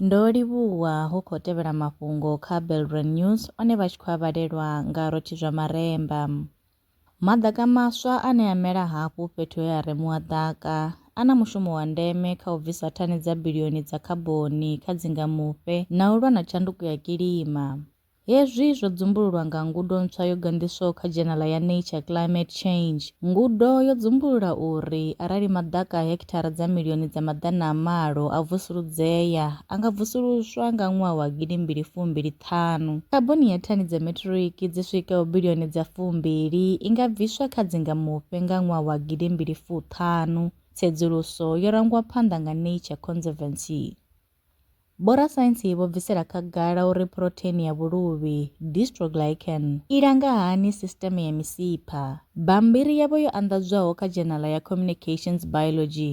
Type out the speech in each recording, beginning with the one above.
Ndo livhuwa hu khou tevhela mafhungo kha Belrand News one vha tshi khou a vhalelwa nga Rotshi zwa Maremba. Maḓaka maswa ane a mela hafhu fhethu he ha remuwa ḓaka a na mushumo wa ndeme kha u bvisa thani dza bilioni dza khaboni kha dzingamufhe na u lwa na tshanduko ya kilima. Hezwi zwo dzumbululwa nga ngudo ntswa yo ganḓiswaho kha dzhenala ya Nature, Climate Change. Ngudo yo dzumbulula uri arali maḓaka a hekithara dza milioni dza maḓana a malo a vusuludzea, a nga vusuluswa nga ṅwaha wa gidi mbili fu mbili ṱhanu. Khaboni ya thani dza metiriki dzi swikaho bilioni dza fu mbili i nga bviswa kha dzingamufhe nga ṅwaha wa gidi mbili fu ṱhanu, tsedzuluso yo rangwa phanḓa nga Nature Conservancy. Vhorasaintsi vho bvisela khagala uri phurotheini ya vhuluvhi, dystroglycan, i langa hani sisiteme ya misipha. Bammbiri yavho yo anḓadzwaho kha dzhenala ya Communications Biology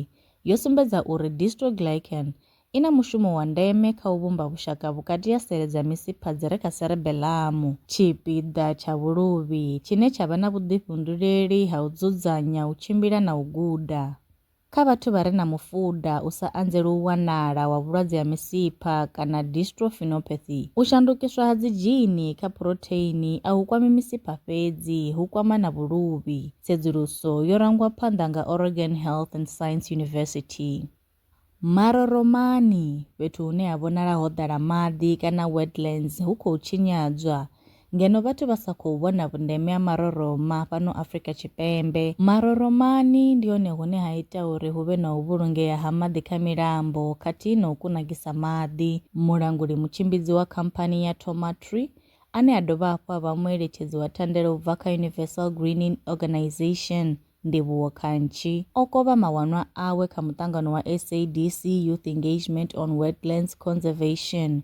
yo sumbedza uri dystroglycan i na mushumo wa ndeme kha u vhumba vhushaka vhukati ha sele dza misipha dzi re kha serebelamu, tshipiḓa tsha vhuluvhi tshine tsha vha na vhuḓifhunduleli ha u dzudzanya, u tshimbila na u guda. Kha vhathu vha re na mufuda u sa anzeli u wanala wa vhulwadze ha misipha kana dystrophinopathy, u shandukiswa ha dzidzhini kha phurotheini a hu kwami misipha fhedzi, hu kwama na vhuluvhi. Tsedzuluso yo rangwa phanḓa nga Oregon Health and Science University. Maroromani, fhethu hune ha vhonala ho ḓala maḓi kana wetlands hu khou tshinyadzwa, Ngeno vhathu vha sa khou vhona vhundeme ha maroroma fhano Afrika Tshipembe, maroromani ndi hone hune ha ita uri hu vhe na u vhulungea ha maḓi kha milambo khathihi na u kunakisa maḓi. Mulanguli mutshimbidzi wa khamphani ya Tomatree, ane a dovha hafhu a vha mueletshedzi wa thandela u bva kha Universal Greening Organisation, Ndivhuwo Khantshi, o kovha mawanwa awe kha muṱangano wa SADC Youth Engagement on Wetlands Conservation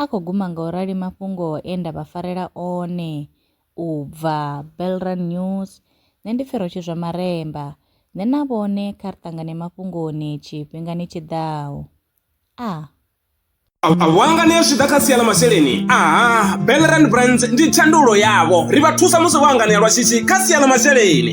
A khou guma nga u rali mafhungo e nda vha farela one u bva Belrun News. Nṋe ndi pfi Rotshizwa Maremba. Nṋe na vhone kha ri ṱangane mafhungoni tshifhingani tshi ḓaho. A. A vho hanganea zwi tshi ḓa kha sia ḽa masheleni. A. Belrun Brands ndi thandululo yavho. Ri vha thusa musi vho hanganea lwa shishi kha sia ḽa masheleni.